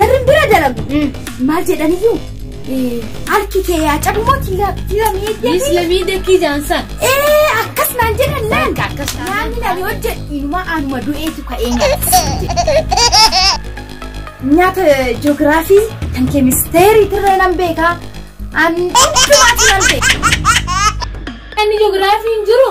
Barri bira dalagu. Maal jedhaniyyuu harki kee yaa cabmoo tilamee Yes, lamii dekkii jaansan. Ee akkas naan jedhan laan. Akkas naan Naamni naan hojjedhu inumaa anuma du'eetu ka'ee nyaata. Nyaata ji'oogiraafii kan keemisteerii tirree nan beekaa. An hundumaatu nan beeka. Inni ji'oogiraafii hin jiru.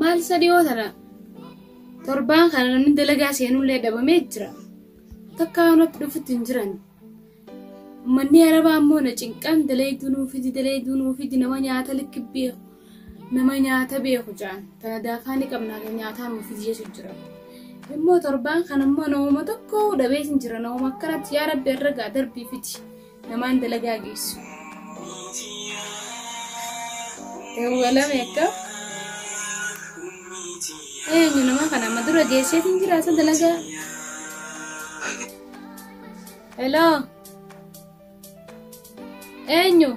Maal isa dhiyoo tana torbaan kana namni dalagaa seenullee dhabamee jira. Takka natti dhufutti hin jiran. Manni arabaa ammoo na cinqan dalayduu nuufidi dalayduu nuufidi nama nyaata likki beeku. nama nyaata beeku ja'an tana daafaa ni qabna kan nyaataa nuuf fidi jechu jira immoo torbaan kan immoo namuma tokko dhabee sin jira namuma akkanatti yaa rabbi irra gaa darbii fidi namaan dalagaa geessu dawwalame akka eenyu nama kana amma dura geessee hin jira isa dalagaa heloo Eenyu?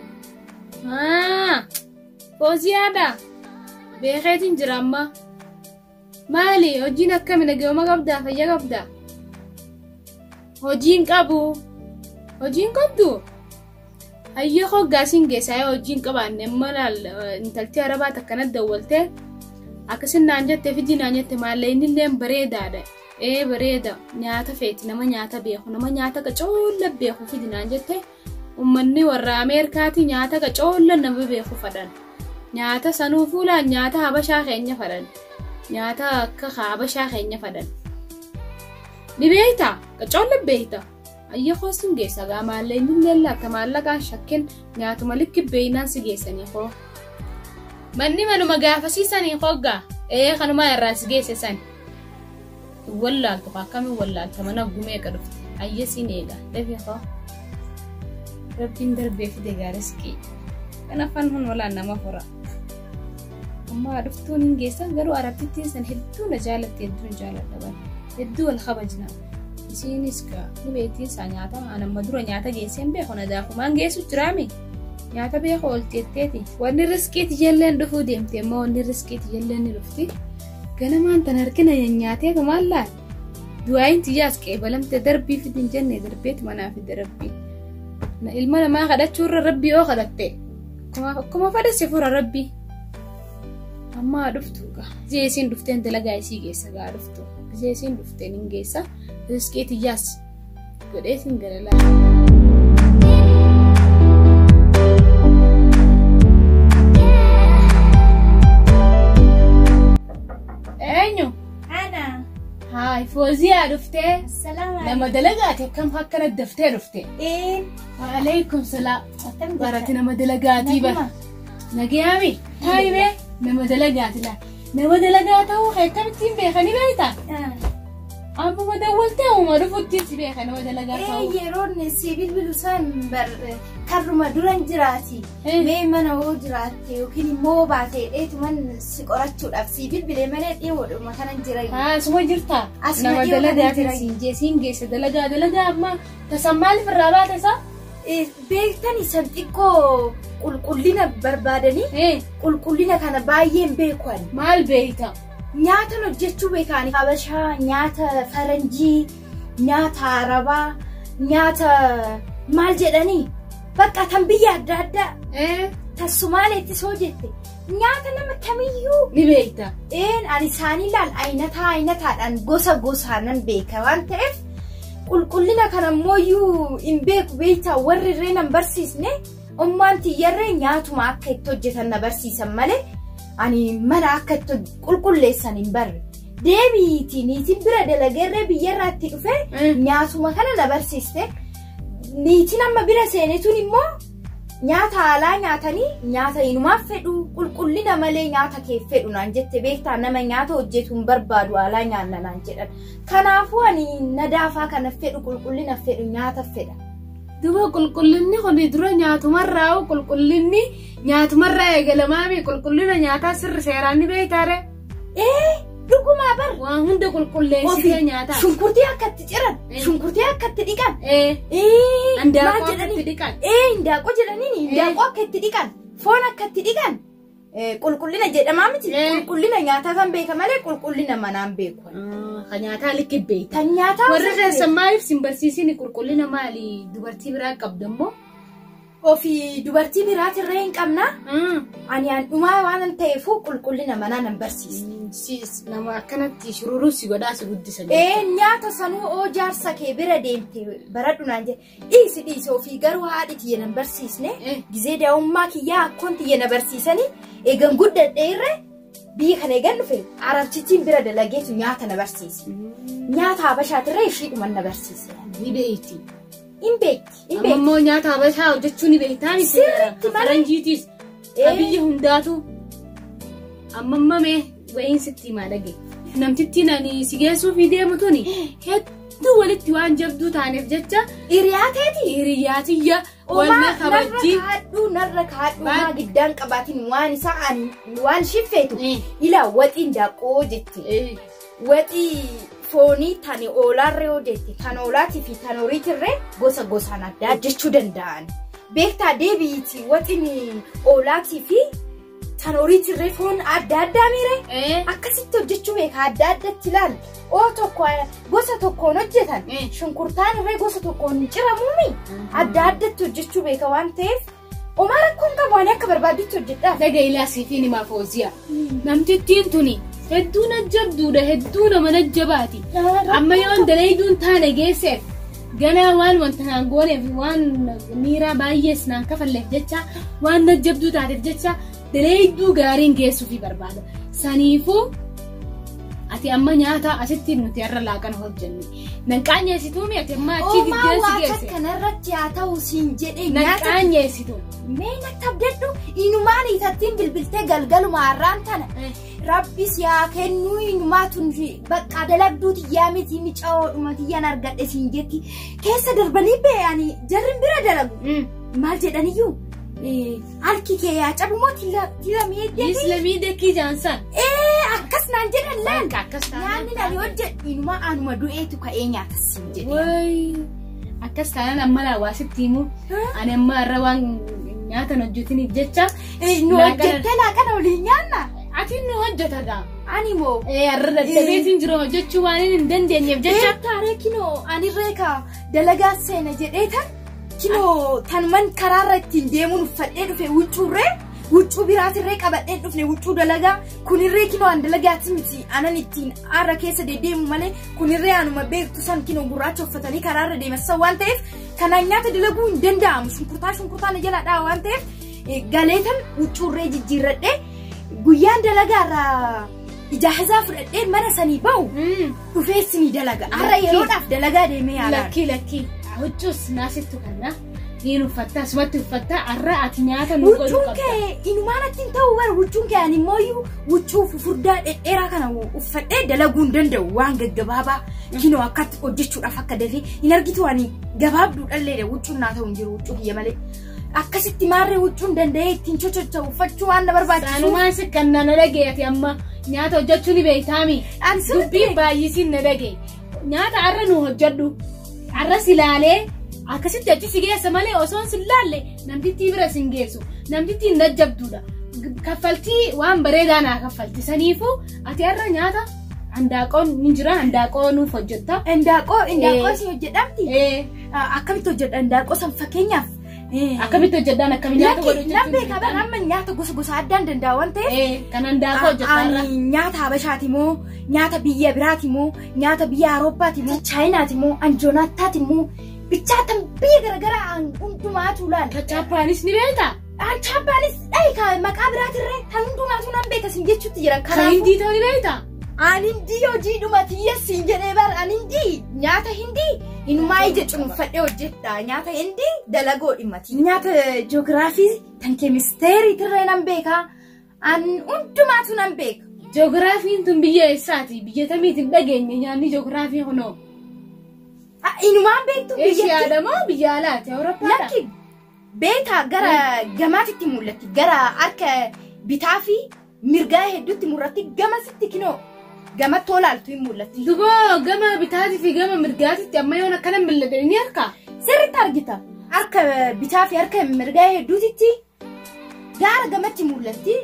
Haa! Fooziyaadha. Beekeetiin jira amma. Maali hojiin akkami nageenya qabdaa fayya qabdaa? Hojiin qabu. Hojiin qabdu? Hayyoo hoggaasiin geessaa yoo hojiin qabaanne amma laal intaltii arabaa takkanatti dawwaltee akkasin naan jette fidii naan jette maallee inni illee bareedaadha. Ee bareeda nyaata feeti nama nyaata beeku nama nyaata akka coolla beeku fidi naan jette ummanni warra Ameerikaati nyaata akka coolla nama beeku fadhan nyaata sanuu fuulaan nyaata habashaa keenya fadhan nyaata akka habashaa keenya fadhan ni beekta akka coolla beekta. Ayya koo sin geessa gaa maallee inni illee akka maallaqaan shakken nyaatuma likki beeynaan si geessanii koo. Manni manuma gaafasiisanii hoggaa ee kanumaa irraa si geesse san. Hin wallaaltu kaa akkamiin wallaalta mana gumee eega dhufte ayya siin eega dafee koo. Rabbiin darbee fide gaariskii. Kan afaan hun walaan nama fura. Ammaa dhuftuun hin geessan garuu arabtittiin san hedduu na jaalatte hedduun jaaladha bara. Hedduu wal kabajna. Isiinis gaa ni beektiin isaa nyaata an amma dura nyaata geesseen beeku na daakumaan geessu jiraame nyaata beeku oolti jetteeti wanni riskiiti jalleen dhufuu deemte immoo wanni riskiiti jalleen ni dhufti ganamaan tan harkina nyaatee tumaan laal du'aayin tiyyaas qeebalamte darbii fidin jenne darbeeti manaa fidde rabbii ilma namaa kadhachuu irra rabbii yoo kadhatte akkuma fadhesse fura rabbii ammaa dhuftu gaa isiin dhufteen dalagaa isii geessa gaa dhuftu. Gisee isiin dhufteen hin geessa. Riskee tiyyaas godhee isin gara laata. Eenyu? Ana. Haay fooziyaa dhuftee. Salama. Nama dalagaati akkam akkana daftee dhufte. Ee. Waalaikum salaam. Barati nama dalagaatii bara. Nagayaami. Taayibee nama dalagaati laa. Nama dalagaa ta'uu kee akkamittiin beekanii beektaa? Abbuma dawwaltee uuma dhufutti si beeka nama dalagaa Ee ta'uu. yeroon si bilbilu isaan bar karruma duran jiraati. Eh. Mee mana hoo jiraatte yookiin immoo baatee dheetuman si qorachuudhaaf si bilbilee malee dhiyoodhuma kanan jira. Haa suma jirtaa? Asuma Nama dhiyoo kana dalagaa jira. ta'e siin jee siin geessa dalagaa dalagaa amma tasan maaliif irraa baate isaa? Beektani san xiqqoo qulqullina barbaadanii Ee, qulqullina kana baay'een beekuan. Maal beekta? Nyaatan hojjechuu beekaani. Habashaa, nyaata faranjii, nyaata arabaa, nyaata maal jedhanii? Bakka tan biyya adda addaa Ee, tan Sumaaleettis hoo jette Nyaata nama kamiyyuu ni beekta. Een ani isaanii laal ayinataa ayinataadhaan gosa gosaanan beeka waan ta'eef qulqullina kana immoo iyyuu hin beeku beektaa warri irree nan barsiisne ummaan tiyyarree nyaatuma akka itti hojjetan na barsiisan malee ani mana akka itti hoj- qulqulleessan hin barre. Deebiitii niitiin bira dalageerree biyyarraa itti dhufee Mm. nyaatuma kana na barsiiste. Niitiin amma bira seenetuun immoo Nyaata haalaa nyaatanii nyaata inumaa fedhu qulqullina malee nyaata kee fedhu naan jette beektaa nama nyaata hojjetu hin barbaadu haalaa nyaanna naan jedhan. Kanaafuu ani nadaafaa kana fedhu qulqullina fedhu nyaata fedha. Duba qulqullinni kun dura nyaatumarraa hoo qulqullinni nyaatumarraa eegalamaa mii qulqullina nyaataa sirri seeraan ni beektaare? Ee dhugumaa bar. Waan hunda qulqulleessitee nyaataa. Shunkurtii akka itti ciran. Eh. Shunkurtii akka itti dhiqan. Ee. Ee maal Handaaqoo akka jedhanii? itti dhiqan. Ee hindaaqoo jedhaniin hindaaqoo akka itti dhiqan. Foon akka itti dhiqan. Ee, Qulqullina jedhamaa miti. Eh. Qulqullina nyaataa kan beeka malee qulqullina manaa hin beeku. Kan nyaataa likki beekta. Kan nyaataa Warri osoo keessan maaliif sin barsiisini qulqullina maali dubartii biraa qabda immoo ofi dubartii biraati irra hin qabna ani an dhumaa waan ta'eefuu qulqullina manaa nan barsiisa. Siis nama akkanatti shururuu si godhaa si guddisan. Ee nyaata sanuu oo jaarsa kee bira deemte baradhu naan jedhe dhiisi dhiisi ofii garuu haadhi tiyya nan barsiisne Eh. gizee daa'ummaa kiyyaa akkoon tiyya na barsiisanii eegan guddadhe irra biyya kana eegan dhufe arabsichiin bira dalageetu nyaata na barsiise nyaata habashaatirra ishiidhuman na barsiise. Videetti. Hin beekti. Hin Amma beekti. immoo nyaata habashaa hojjechuu ni beektaa miti. Sirriitti malee. Faranjiitis. Ee. Ka biyya hundaatu. Amma amma mee wayiin sitti himaa dhage. Namtittiin ani si geessuuf deemu tuni hedduu walitti waan jabduu taaneef jecha Hiriyaa teeti. hiriyaa tiyya wal na Omaa narra kabajji. kaadhuu narra kaadhuu Waan- maa giddaan qabaatiin waan isaa an- waan shifeetu Eh. ilaa waxiin daaqoo jetti. Eh, Waxi foonii tan oolaarra yoo deette tan oolaatii fi tan horiitirree gosa gosaan addaa jechuu danda'an. Beektaa deebiiti waxini oolaatii fi tan horiitirree foon adda addaa miire Eh. akkasitti hojjechuu beeka adda addatti ilaali. Oo tokko gosa tokkoon hojjetan Eh. shunkurtaan irree gosa tokkoon hin ciramuumi adda addatti hojjechuu beeka waan ta'eef Omaa rakkoon qabu ani akka barbaadditti hojjedhaa. Dhaga ilaa siifiin himaa fooziya. Namtittiin tuni hedduu na jabduudha hedduu nama na jabaati. Amma yoon dalayduun taane geesseef ganaa waan wanta naan gooneef waan miiraa baay'ees naan kafalleef jecha waan na jabduu taateef jecha dalayduu gaariin geessuufi barbaada. Saniifuu ati amma nyaata asitti nuti har'a laaqana hojjennu. Nan qaanyeessituu mi ati ammaa achii Uumaa giddeessi waaqa geesse. kanarratti haa ta'u siin jedhee Nan nyaata qaanyeessitu. mee natti abdadhu inumaan itattiin bilbiltee galgaluma har'aan tana rabbi si haa kennuu inumaa tun fi bakka dalagduu tiyyaa miti micaa'oodhuma tiyyaan argadhe siin jetti keessa darbanii beeyanii jarri bira dalagu maal jedhaniyyuu eh, Harki kee yaa cabu moo tila tila miidhee. Isla miidhee kii jaansan. Ee akkas naan jedhan laan. Akka akkas taanaan. Nyaanni naan hojjedhu inuma anuma du'eetu ka'ee nyaata siin jedhe. Wayi. Akkas taanaan amma laa waa sitti himu. Ani amma irra waan nyaatan hojjetiniif jecha. Ee, Nu Laaqana- hojjettee laaqana waliin nyaanna. Ati nu hojjeta gaa. Ani moo. Ee har'a dadhabeetiin jiru hojjechuu waan hin dandeenyeef jecha. Jecha taaree kinoo ani reeka dalagaa seena jedhee tan Kinoo tanuman karaarra ittiin deemuun uffadhee dhufe huccuurree huccuu biraatirree qabadhee dhufne huccuu dalagaa kunirree kinoo an dalagaati miti anan ittiin aara keessa deddeemu malee kunirree anuma beektu san kinoo gurraacha uffatanii karaarra deemassa waan ta'eef kanaan nyaata dalaguu hin danda'amu shunkurtaa shunkurtaa na jalaadhaa waan ta'eef eh, galeetan huccuurree jijjiirradhee guyyaan dalagaarraa ijaazaa fudhadhee mana sanii ba'u. dhufeessi ni dalaga har'a Lakkii. yeroodhaaf dalagaa deemee yaalaa Lakkii lakkii huccuus naasiftu kanna niin uffatta asumatti uffatta har'a ati nyaata nu godhu huccuun qabda. kee inumaan achi hin ta'u bara huccuun kee ani immoo iyyuu huccuu fufurdaa dhedheeraa kana uffadhee dalaguu hin danda'u waan gaggabaabaa kinoo akkatti hojjechuudhaaf akka dafee hin argitu ani gabaabduu dhalleedha huccuun naa ta'u hin jiru huccuu kiyya malee Akkasitti maarree huccuun danda'ee ittiin chochocha uffachuu waan na barbaachisu. Saanumaan si kan na dhagee ati amma nyaata hojjechuu ni beektaami. Ani sirriitti Dubbiin baay'isiin na dhagee. Nyaata har'a nu hojjedhu. Har'a si laalee akkasitti achi si geessa malee osoo si laalle namtittii bira si hin geessu. Namtittiin na jabduudha. Kaffaltii waan bareedaa naa kaffalti. Saniifuu ati har'a nyaata handaaqoon ni jira handaaqoo nuuf hojjetta. Indaaqoo indaaqoo Eh. si hojjedhamti. Eh, Akkamitti hojjedha indaaqqoo san fakkeenyaaf. Akkamitti hojjedhaan akkamitti nyaata wal hojjechuun. Lammee kaban amma nyaata gosa gosa addaan danda'a waan ta'eef. Kan indaaqqoo hojjedhaa irra. Ani nyaata Habashaati moo nyaata biyya biraati moo nyaata biyya Awurooppaati moo Chaayinaati moo Anjoonaataati moo bichaatan biyya garaagaraa aan hundumaa tuulaan. Chaappaanis ni beektaa? Aan chaappaanis dhahi maqaa biraatirree kan hundumaa tuulaan beekasin jechuutti jiran. Kan hindii ta'uu ni beektaa? Aan hindii hojii dhumatiyya siin jedhee bar aan hindii nyaata hindii inumaa ija cunuffadhee hojjedha nyaata hindii dalagoo dhimmati. Nyaata joogiraafii tan keemisteerii tirree nan beekaa aan hundumaatu nan beeka. Joogiraafiin tun biyya eessaati? Biyya tamiiti hin dhageenye nyaanni joogiraafii kunoo. Ah, Inumaan beektu biyyatti Eeshiyaadha moo biyya alaati? Awurooppaadha? lakki beekaa gara gamaatitti mul'atti gara harka bitaa fi Mirgaa hedduutti murratti gamasitti kinoo gamattoo laaltu hin mul'atti. Duboo gama bitaatii fi gama mirgaatitti amma yoon akkana mil'ate ni harka. Sirriitti argita. Harka bitaa fi harka mirgaa hedduutitti gaara gamatti mul'atti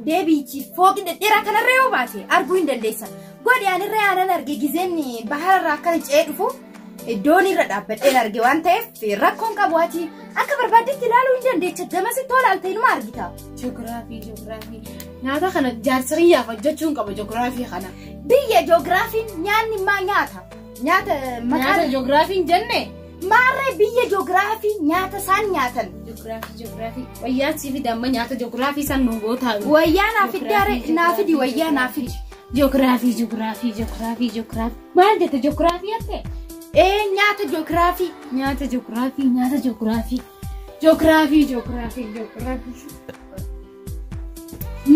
deebiichi fooqi dhedheeraa kanarra yoo baate arguu hin dandeessa. Godhi anirra aanan arge gizeen bahararraa akkana ce'ee dhufu Iddoon irra dhaabbadheen arge waan ta'eef rakkoon qabu ati akka barbaaddetti ilaaluu hin dandeecha damasi tola altee numa argita. Joogiraafii joogiraafii nyaata kana jaarsiriyyaaf hojjechuun qaba joogiraafii kana. Biyya joogiraafiin nyaanni maa nyaata? Nyaata Nyaata maqaan joogiraafiin jenne maarree biyya joogiraafii nyaata isaan nyaatan. joogiraafii joogiraafii wayyaan siif damma nyaata joogiraafii san nu gootaa. Wayyaa naa fiddaare naa fidi wayyaa naa fidi. Joogiraafii joogiraafii joogiraafii joogiraafii. Maal jette joogiraafii jette? Ee nyaata joogiraafii nyaata joogiraafii nyaata joogiraafii joogiraafii joogiraafii joogiraafii.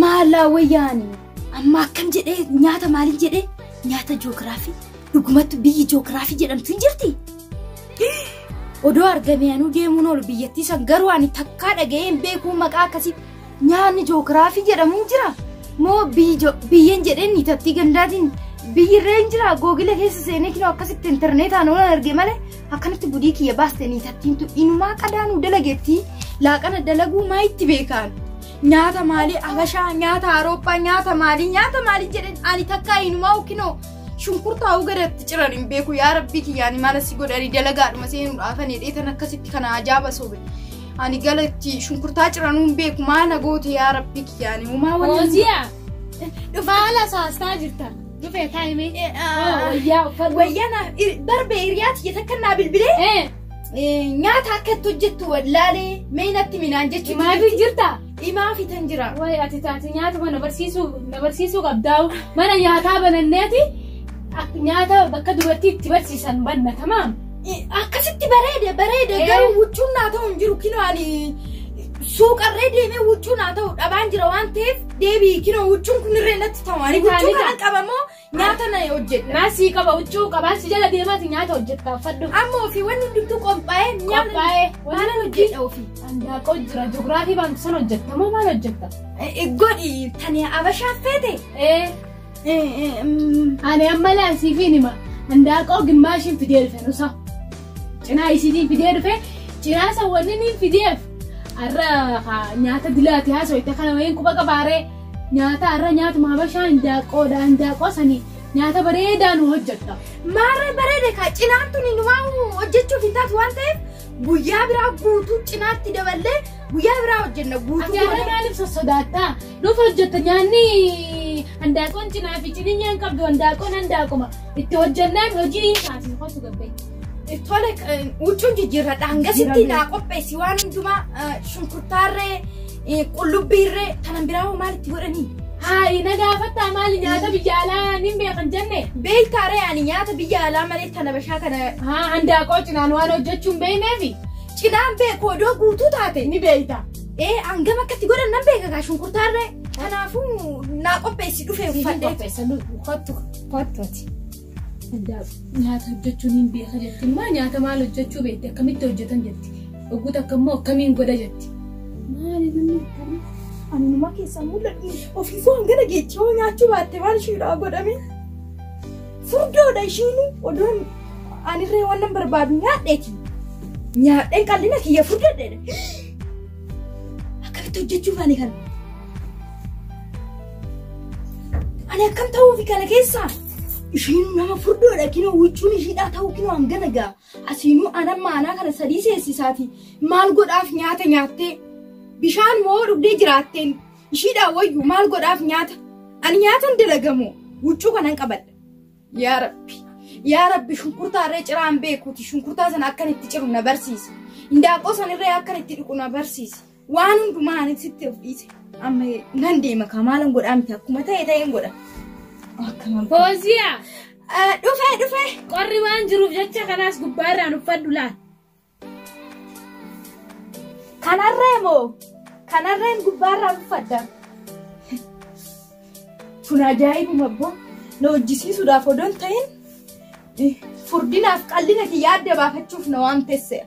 Maalaa wayyaani amma akkam jedhee nyaata maaliin jedhee nyaata joogiraafii dhugumatti biyyi joogiraafii jedhamtu hin jirti. Odoo argamee anuu deemuun oolu biyyattii san garuu ani takkaa dhaga'ee hin beekuu maqaa akkasii Nyaanni joogiraafii jedhamu hin jira moo biyyeen jedheen niitattii gandaatiin biyyi irra hin jira googila keessa seenee kinoo akkasitti intarneetaan oolan arge malee akkanatti budii kiyya baaste niitattiintu inumaa qadaanuu dalageettii laaqana dalaguu maa itti beekaan. Nyaata maalii Habashaa nyaata Awurooppaa nyaata maalii nyaata maalii jedhan ani takkaa inumaa kinoo shunkurtaa ugaratti ciran hin beeku yaa rabbii kiyyaani maala si godhani dalagaadhuma seenuudhaafan hidheetan akkasitti kana ajaaba sobe. Ani gala itti shunkurtaa ciranuu hin beeku maa na goote yaa rabbi kiyyaani uumaa waliin. Hooziya. Baala saastaa jirta. Dhufee taa'imee. Eh, ah, Wayyaa uffata. Wayyaa na ir- barbee hiriyaa tiyya takka naa bilbilee Eh, eh, nyaata akka itti hojjettu wallaalee mee natti minaan jechuudha. maafii jirta? Dhimaa fitan jira. Wayi ati taate nyaatuma na barsiisuu na barsiisuu qabdaa mana nyaataa bananneeti ak- nyaata bakka dubartii itti barsiisan banna tamaam. Akkasitti bareede bareede Ee. garuu huccuun naa ta'u hin jiru kinoo ani suuqarree deemee huccuun naa ta'u dhabaan jira waan ta'eef deebii kinoo huccuun kun irree natti ta'u ani Ni ta'a, huccuu ni ta'a. kana qabamoo Nyaata na hojjedha. Naa sii qaba huccuu qabaa si jala deemaati nyaata hojjedha uffadhu. Amma ofii wanni hundumtuu qophaa'ee nyaata Qophaa'ee maal hojjedha ofii? Handaaqoo jira ji'ograafii baantu san hojjetta moo maal hojjetta? Eh, Godhi tani abashaa feete. Ee Eh, eh, mm, ani amma laan siifiin hima handaaqoo gimmaashiin fidee dhufe nusa. Cinaa isiitiin fidee dhufe cinaa isa wanni niin fideef har'a haa, nyaata dilaati haasoo itti kana wayiin quba qabaaree. Nyaata har'a nyaatuma habashaa indaaqqoodha indaaqqoo sani nyaata bareedaa nu hojjetta. Maarree bareeda kaa cinaan tuni numaa hojjechuuf hin taatu waan ta'eef guyyaa biraa guutuu cinaatti daballee guyyaa biraa hojjenna Ati guutuu. har'a goonee. maaliif sossodaattaa? Nuuf hojjetta nyaanni handaaqqoon cinaa fi ciniinyee hin qabdu handaaqqoon handaaquma itti hojjennaan hojii hin taasisu kosu gabbee. Tole eh, huccuun jijjiirradha hangasitti Jijjiirradha. naa qopheessi waan hundumaa eh, shunkurtaarree Eh, Qullubbii irree tanan biraa hoo maal itti godhanii? Haayi na gaafattaa maali nyaata biyya alaa nin beekan jenne. Beektaa ree ani nyaata biyya alaa malee tana bashaa kana Haa handaaqoo cinaan waan hojjechuu hin beekneefi cinaan beeku odoo guutuu taate. ni beekta. Ee hangam akkatti godhan nan beeka kaa shunkurtaa irree. Kanaafuu naa qopheessi dhufee uffadhee. Qopheessan kottu kottu ati. Hundaaf nyaata hojjechuun hin beeka jetti. Immoo nyaata maal hojjechuu beekti akkamitti hojjetan jetti. Oguu takka immoo akkamiin godha jetti. Maali namni akkana anuma keessaa mul'atu ofiifuu hangana geechi yoo nyaachuu baatte maal ishiidhaa godhame. Furdoodha ishiin odoon anirree waan nan barbaadu nyaadheeti. Nyaadheen qal'ina kiyya furdadheedha. Akkamitti hojjechuu baane kana? Ani akkam ta'uufi kana keessaa? Ishiin nama furdoodha kinoo huccuun ishiidhaa ta'uu kinoo hangana gaa. Asiinuu anan maanaa kana sadii seessisaati. Maal godhaaf nyaata nyaattee? Bishaan moo dhugdee jiraatteen? Ishiidhaa wayyu maal godhaaf nyaata? Ani nyaatan dalagamoo huccuu kanan qabadha. Yaa Rabbi! Yaa Rabbi shunkurtaa irree ciraan beekuuti shunkurtaa sana akkan itti ciru na barsiisi. Indaaqqoo sana irree akkan itti dhiqu na barsiisi. Waan hundumaa ani sitti of dhiise. Amma nan deema kaa maalan godhaa miti akkuma ta'e ta'een godha. Akkuma Fooziyaa dhufee dhufee. qorri waan jiruuf jecha kanaas gubbaa irraan uffadhu laal. Kanarree moo? Kanarreen gubbaarraa uffadha. Kun ajaa'ibuma abboo na hojjisiisuudhaaf odoo hin ta'in Furdinaaf qal'ina kiyya adda baafachuuf na waamtesseera.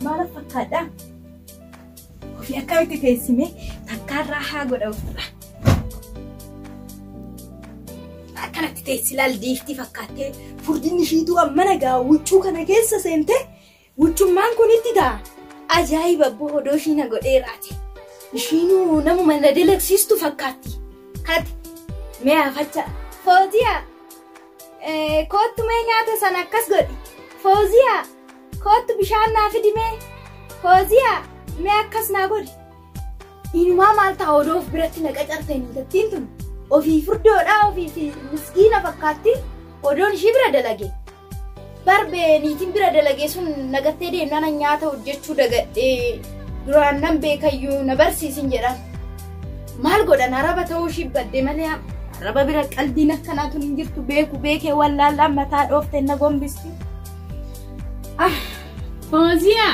Maala fakkaadhaa? Ofii akkamitti teessimee takkaarraa haa godha ofirraa. Akkanatti teessi laal diiftii fakkaattee furdinni ishiituu ammana gaa huccuu kana keessa seentee Wuchummaan kun itti ta'a. Ajaa'iba abboo odoo ishii na godhee raate. Ishiinuu namuma na dalagsiistu fakkaatti. Hati mee afacha. Fooziya koottu mee nyaata sana akkas godhi. Fooziya koottu bishaan naa fidi mee. Fooziya mee akkas naa godhi. Inumaa maal ta'a odoo of biratti na qacarte intattiin tun. Ofii furdoodhaa ofii fi miskiina fakkaatti odoon ishii bira dalage. Barbee niitiin bira dalagee sun nagattee deemnaan an nyaata hojjechuu dagadhee duraan nan beekayyuu na barsiisin jedhan. Maal godhan araba ta'uu ishii badde malee am- araba bira qaldiin akkanaatu hin jirtu beeku beekee wallaallaan mataa dhoofte na gombisti. Ah, Fooziyaa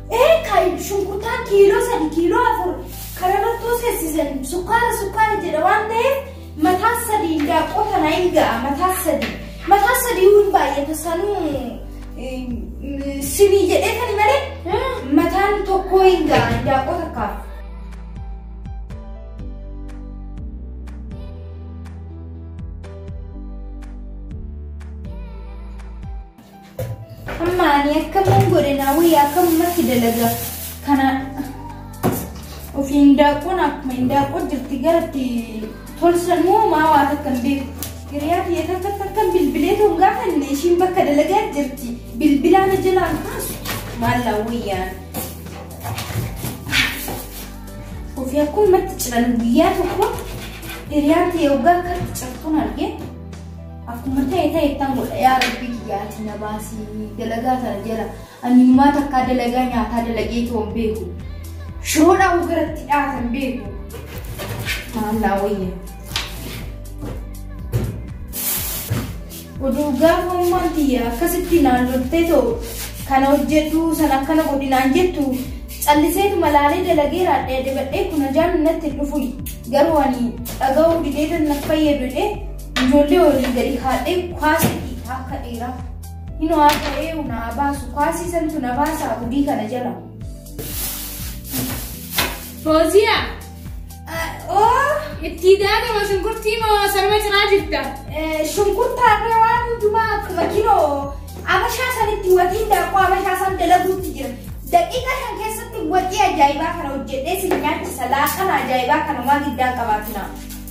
Ee kai shunkurtaa kiiloo sadi kiiloo afur karabattoo seessisan sukkaara sukkaara jedha waan ta'eef mataa sadii daaqqoo kana hin ga'a mataa sadii mataa sadii hin baay'ata sanuu sinii jedhee kan malee mataan tokkoo hin ga'a daaqqoo takkaaf. Amma ani akkaman godhe naa wayya akkamumatti dalaga kana ofii hin daaqoon akkuma hin daaqoo jirti garatti tolsan moo maa waa takka hin beeku. Hiriyaa biyya takka takka bilbilee too hin gaafanne ishiin bakka dalagaa jirti bilbilaa na jalaan kaasu maal naa wayyaan. Ofii akkumatti ciran guyyaa tokko hiriyaa ta'e waggaa akkatti cirtuun argee. Akkuma ta'e ta'e ittaan godha yaa rabbii kiyya ati na baasii dalagaa tana jala ani numaa takkaa dalagaa nyaataa dalagee toon beeku shiroodhaa ugaratti dhaatan beeku maallaa wayya. Oduu gaafa ummaan tiyya akkasitti naan loltee too kana hojjedhu san akkana godhi naan jettu callisee malaalee dalagee raadhee debadhee kun ajaan natti hin dhufu garuu ani dhaga'uu didee tan na fayyadu jedhee Ijoollee waliin gadi kaadhee kwaasa dhiitaa akka dhiiraa. Hinoo akka eeyu na abaasu kwaasii santu na baasaa gudii kana jala. Fooziyaa! Oo! Itti daakama shunkurtii moo sarba ciraa jirta? Shunkurtaa fi waan hundumaa akkuma kiloo abashaa sanitti watiin daakuu abashaa san dalaguutti jira. Daqiiqa shan keessatti watii ajaa'ibaa kana hojjedhee si nyaachisa laaqana ajaa'ibaa kana waan giddaan qabaatina.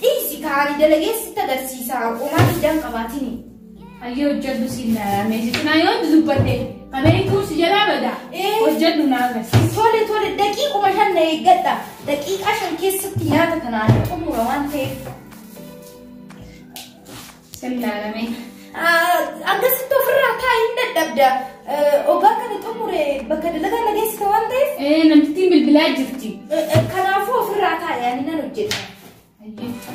Dhiisi kaa ani dalagee sitti agarsiisa homaa diddaan qabaatini. Hayyee hojjedhu siin meesitti naa yoo dubbadhe qabeen kun si jalaa bada. Ee. Hojjedhu naa agarsiisa. Tole tole daqiiquma shan na eeggadha. Daqiiqaa shan keessatti nyaata kana ani xumura waan ta'eef. Sillaalamee. Akkasitti ofirraa kaa'iin dadhabda. Ogaa kana xumure bakka dalagaa na geessita waan ta'eef. Ee namtittiin bilbilaa jirti. Kanaafuu ofirraa kaa'i ani nan hojjedha.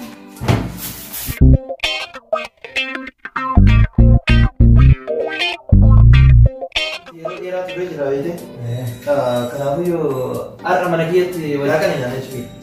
Yeroo dheeraa turee jira beekte. Kanaafuu yoo har'a mana kiyyatti walaaqana nyaanna jechuudha.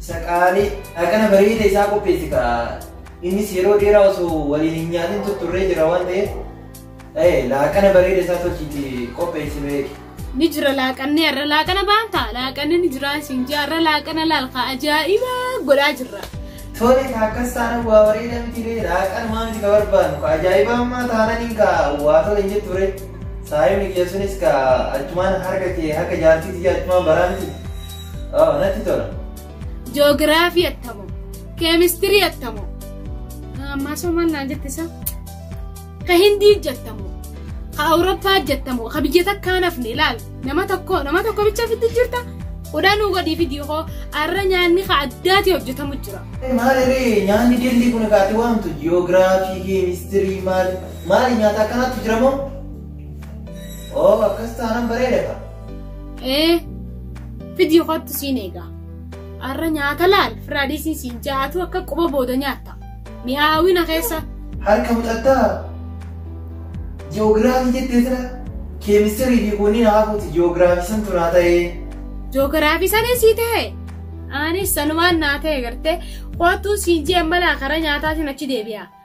Isa qaalii dhaqana bareeda isaa qopheessi kaa. Innis yeroo dheeraa osoo waliin hin nyaatin tutturree jira waan ta'eef ta'e laaqana bareeda isaa tolchiiti qopheessi beeki. Ni jira laaqanni har'a laaqana baanta laaqanni ni jira isin jaa har'a laaqana laalka ajaa'iba godhaa jirra. Tole ka akkas taana waa bareeda miti ree laaqana maa miti ka barbaannu ka ajaa'ibaa ammaa taananiin ka waa tole hin jettu ree. Saayonni kiyya sunis ka achumaan harka kee harka jaartiiti jaa achumaan baraa miti. Oo, natti tola. Joogiraafii attamoo. Keemistirii attamoo. Ammaa soomaan naan jette isaa. Ka Hindii jattamoo. Ka Awurooppaa jattamoo. Ka biyya takkaa nafne ilaal. Nama tokko nama tokko bicha fitti jirta. Odaa nuu godhii fidii hoo arra nyaanni ka addaatii hojjetamu jira. Maaliree nyaanni dillii kun kaati waamtu ji'oogiraafii keemistirii maali maali nyaata akkanaatu jira moo? Oo akkas taanaan bareeda ka. Ee fidii kottu siin eegaa. Har'a nyaata laal firaadiisiin siin jaatu akka quba booda nyaatta. Mi'aawina keessa. Harka muxattaa ji'oogiraafii jettee sana keemistirii fi kunniin haafuuti ji'oogiraafii san turaa ta'ee. Ji'oogiraafii sana sii ta'e. Anis sanumaan naa ta'e gartee kottu siin jee malaa karaa nyaataa siin achi deebi'a.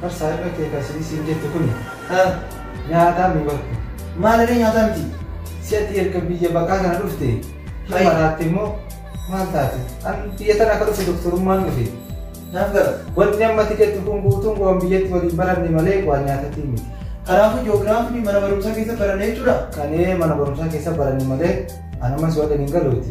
Bar saahiba kee kan isinii siin jette kuni ha nyaataa mii bar kun. Maaliree nyaataa miti. Si ati erga biyya baqaa kana dhufte hin Hai. maraatte immoo maal taate? An biyya tana akka dhufte doktorummaan dhufe. Naaf gala. Wanni amma ati jettu kun guutuun waan biyyatti waliin baranne malee waan nyaatatii miti. Kanaafuu ji'oogiraafii mana barumsaa keessa baranne jechuudha. Kanee mana barumsaa keessa baranne malee an ammas waan hin galuuti.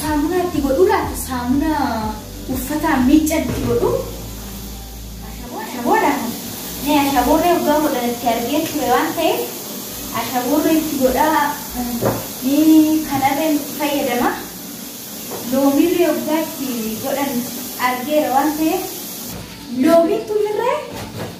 Saamunaa itti godhuu laata? Saamunaa uffataan miiccan itti godhuu? Ashaboodha. Mee ashaboorree waggaa godhan itti argee ture waan ta'eef ashaboorree itti godhaa ni kanarree itti fayyadama. Loomiirree waggaa itti godhan argeera waan ta'eef loomiin tunirree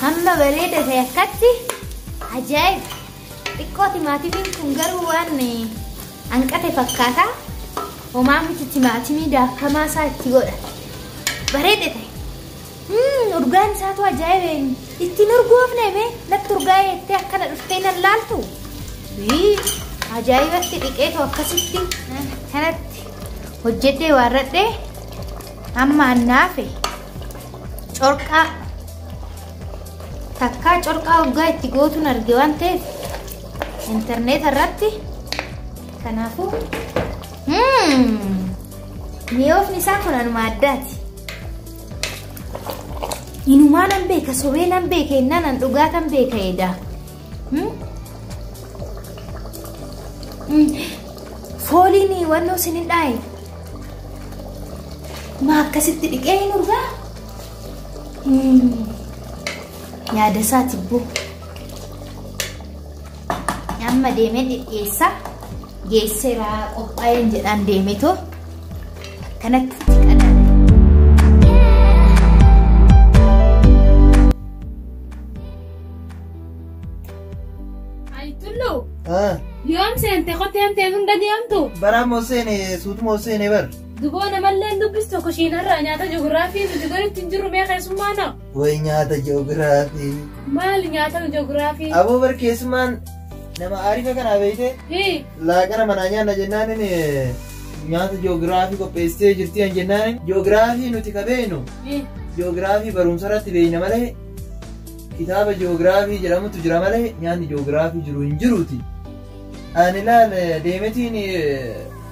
Hamma bareeda ta'e akkatti ajaa'iba. Xiqqoo timaatimiin kun garuu waan hanqate fakkaata. Homaa miti timaatimii daakamaa isaa itti godha. Bareeda ta'e. Mm, urgaan isaatu ajaa'ibe ittiin urgoofne mee natti urgaa jettee akkana dhuftee nan laaltu Wii, ajaa'ibatti dhiqeetu akkasitti kanatti hojjedhee waarradhee amma annaafe corqaa takkaa corqaa urgaa itti gootuun arge waan ta'eef intarneeta irratti kanaafuu mm, mi'oofni isaa kun anuma addaati Inumaa nan beeka sobee nan beeka innaan an dhugaa tan beeka edaa. Fooliin wannoo sin hin dhaaye. Maa akkasitti dhiqee hin urgaa? Yaada isaa tibbuu. Amma deemee dhidhiyeessaa. geesseera qophaa'een jedhaan deemetoo akkanatti itti qadaadame. Tullu Ah, yoom seente kottee amtee sun gadi amtu baraa moo seene suutu moo seene bar. duboo namallee dubbistu kushiinarraa nyaata ji'oogiraafii nuti gaditti hin jirru mee keessummaa na. Way nyaata ji'oogiraafii. Maal nyaatama ji'oogiraafii? Aboo bar keessumaan nama aarifa kanaa beeyte Hii. laaqana manaa nyaanna jennaan inni nyaata ji'oogiraafii qopheessitee jirti an jennaan ji'oogiraafii nuti ka beeynu Hii. ji'oogiraafii barumsa irratti beeyna malee kitaaba ji'oogiraafii jedhamutu jira malee nyaanni ji'oogiraafii jiru hin jiruuti. Ani laal deemetiin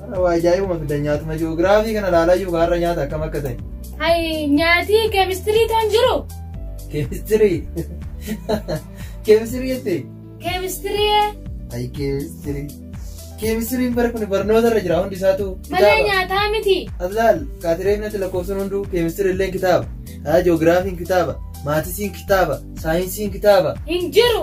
Har'a waa ajaa'ibuma fidan nyaatuma ji'oogiraafii kana ilaalayyuu kan har'a nyaata akkam akka ta'e. Hayi nyaati keemistirii toon jiru. Keemistirii. Keemistirii jettee? Keemistirii Ayi keemistirii. Keemistiriin bara kun barnoota irra jira hundi isaatu malee nyaataa miti. Ablaal kaatireef natti lakkoofsuun hunduu keemistirii illee kitaaba. Haa ji'oogiraafiin kitaaba. Maatisiin kitaaba. Saayinsiin kitaaba. Hin jiru.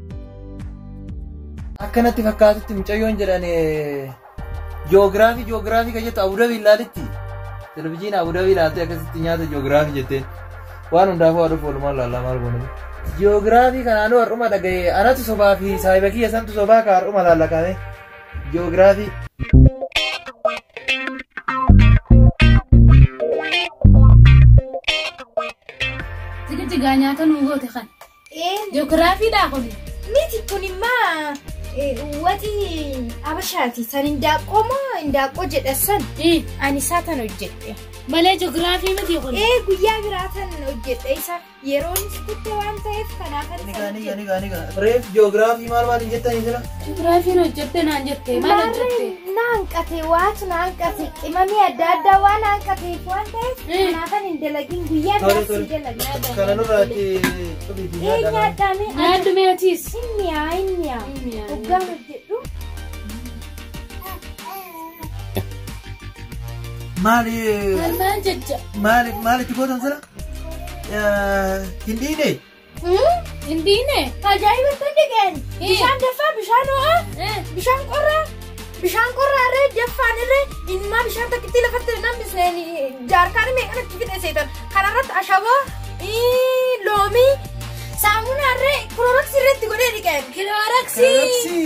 Akka natti fakkaatutti mucayyoon jedhan joogiraafii joogiraafii kan jettu Abudabii ilaalitti. Televizyiina Abudabii ilaaltee akkasitti nyaata joogiraafii jetteen. Waan hundaafuu aduu oolmaa ilaalaa maal goonee. Joogiraafii kanaanuu har'uma dhaga'ee anatu sobaa fi saayiba kiyya santu sobaa ka har'uma laallaqame. Joogiraafii. Tigidigaa nyaata nuu goote kan. Ji'ogiraafiidhaa kun miti kun immaa waxii abashaati san indaaqqoo moo indaaqqoo jedha san ani isaa tan hojjedhe. Malee ji'ogiraafii miti kun. Ee guyyaa biraa tan hojjedhe isa yeroonis kutte waan ta'eef kanaaf ani Nigaa nigaa nigaa nigaa. Reef ji'ogiraafii maal maal hin jettanii jira? Suturaafiin hojjette naan jette maal hojjette? Maarree na hanqate waatu na hanqate qimamii adda addaa waan na hanqateef waan ta'eef Mm. kanaafan hin dalagin guyyaa Tole, biraas hin tole. dalagin. Kana nurraati cubiifi Ee nyaadha. nyaadhaamee Nyaadhu mee atiis. inni yaa inni yaa Inni yaa. hoggaa hojjedhu Maali Maal maal jajja? maali maali itti gootan sana? Eh, Hin dhiine? Hin dhiine. Ajaa'iba tolli qeen. Bishaan daffaa, bishaan ho'aa, bishaan qorraa, bishaan qorraa irree daffaan irree ilmaa bishaan takkitti lafatti nan bisneen jaarkaan meeqan itti fixeessitan. Kana irratti ashaboo, ii, loomii, saamunaa irree, kilooroksii irratti godhee dhiqeen. Kilooroksii. Kilooroksii.